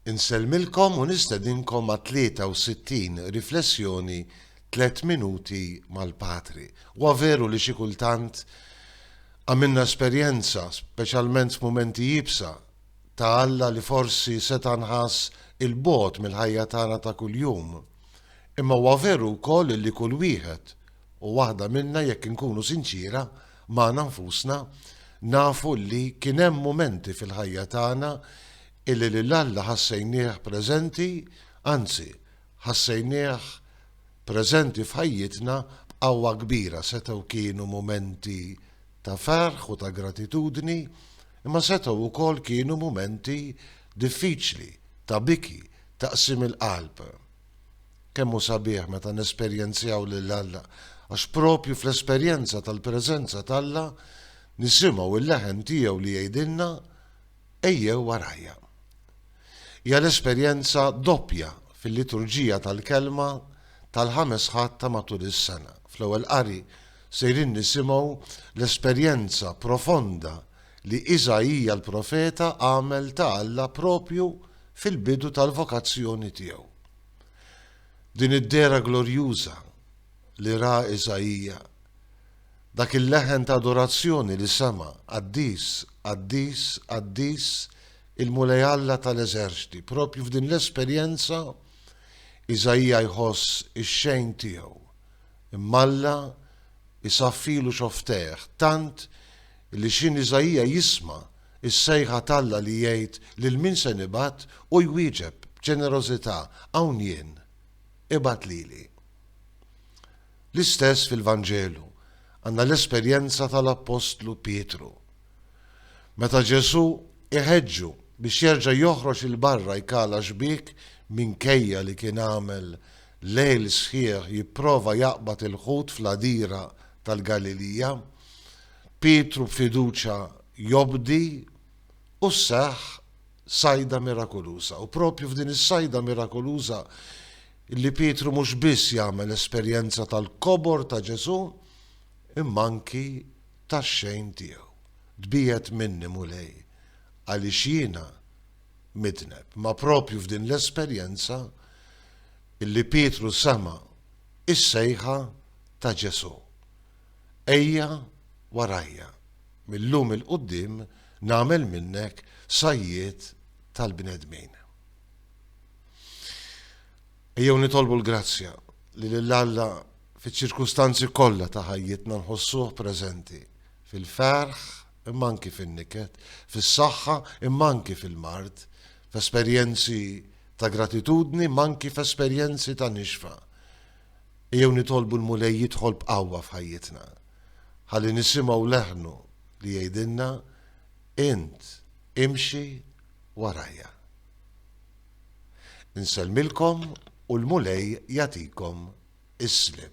Insellmilkom u nistedinkom għat-63 Riflessjoni Tliet Minuti mal-Patri. Huwa veru li xi kultant għamilna esperjenza, speċjalment f'mumenti iebsa, ta' Alla li forsi seta' nħass 'il bogħod mill-ħajja tagħna ta' kuljum. Imma huwa veru wkoll li kull wieħed u waħda minna jekk inkunu sinċiera, Magħna nfusna, nafu li kien hemm mumenti fil-ħajja tagħna illi lil Alla ħassejnieh preżenti, anzi, ħassejnieh preżenti f'ħajjitna b'qawwa kbira, setgħu kienu mumenti ta' ferħ u ta' gratitudni, imma setgħu wkoll kienu mumenti diffiċli, ta' biki, ta' qsim il-qalb. Kemm hu sabiħ meta nesperjenzjaw lil Alla, għax proprju fl-esperjenza tal-preżenza t'Alla nisimgħu l-leħen tiegħu li jgħidilna, Ejjew warajja. Hija l-esperjenza doppja fil-liturġija tal-Kelma tal-Ħames Ħadd ta' matul is-sena. Fl-Ewwel Qari sejrin nisimgħu l-esperjenza profonda li Isaija l-profeta għamel ta' Alla proprju fil-bidu tal-vokazzjoni tiegħu. Din id-dehra glorjuża li ra Isaija, dak il-leħen ta' adorazzjoni li sema', Qaddis, qaddis, qaddis, il-Mulej Alla tal-eżerċti, proprju f'din l-esperjenza Isaija jħoss ix-xejn tiegħu, imma Alla jsaffilu xoftejh tant Li x'in Iżaija jisma' s-sejħa t'Alla li jgħid lil min se nibgħat u jwieġeb b'ġenerożità, Hawn jien, ibgħat lili. L-istess fil-Vanġelu, għandna l-esperjenza tal-appostlu Pietru. Meta Ġesù iħeġġu biex jerġa' joħroġ 'il barra jkala xbiek minkejja li kien għamel lejl sħiħ jipprova jaqbad il-ħut fl-għadira tal-Galilija, Pietru b'fiduċja jobdi u sseħħ sajda mirakoluża. U proprju f'din is-sajda mirakoluża li Pietru mhux biss jagħmel esperjenza tal-kobor ta' Ġesù, imma anki tax-xejn tiegħu. Tbiegħed minni, Mulej, għaliex jiena midneb. Ma proprju f'din l-esperjenza li Pietru sema' is-sejħa ta' Ġesù. Ejja warajja, mil-lum 'il quddiem nagħmel minnek sajjied tal-bnedmin. Ejjew nitolbu l-grazzja li lil Alla fiċ-ċirkustanzi kollha ta' ħajjitna nħossuh preżenti, fil-ferħ imma anki fin-niket, fis-saħħa imma anki fil-mard, f'esperjenzi ta' gratitudni imma anki f'esperjenzi ta' nixfa. Ejjew nitolbu l-Mulej jidħol b'qawwa f'ħajjitna, ħalli nisimgħu leħnu li jgħidilna, Int, imxi warajja. Insellmilkom u l-Mulej jagħtikom is-sliem.